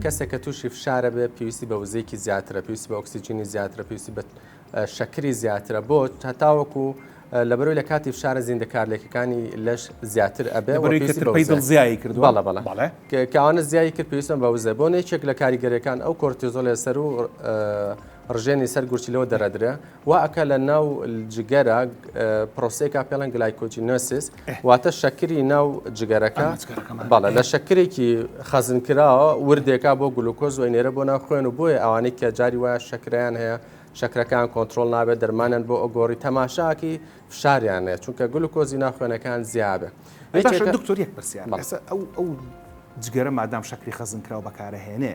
کەسێک کە تووشی فشارە بێت پێویستی بە وزەیەکی زیاترە پێویستی بە ئۆکسسیجینی زیاترە پێویستی بە شەکری زیاترە بۆ هەتاوەکو لەبەرەوەی لە کاتی فشارە زیندەکارلێکەکانی لەش زیاتر ئەبێ زیایی کرد بەڵە بەڵە بەڵێ کاوانە زیایی کرد پێویستم بە وزە بۆ نێچێک لە کاریگەرەکان ئەو کۆرتیزۆلێ سەر و ڕژێنی سەر گورچیلەوە دەرەدرێ وا ئەکا لە ناو جگەرە پرۆسەیەکا پێڵەن گلایکۆجینۆسیس واتە شەکری ناو جگەرەکە بەڵە لە شەکرێکی خەزنکراوە وردێکا بۆ گلوکۆز وی نێرە بۆ ناو خوێن و بۆیە ئەوانەی کە جاری وایە شەکریان هەیە شەکرەکان کۆنتترۆل نابێت دەرمانیان بۆ ئۆگۆری تەماشاکی فشاریان نێت چونکە گلوکۆزی ناخوێنەکان زیابێت دکتۆریەک پرسیار ئەو جگەرە مادام شەکری خەزنکراوە بەکارەهێنێ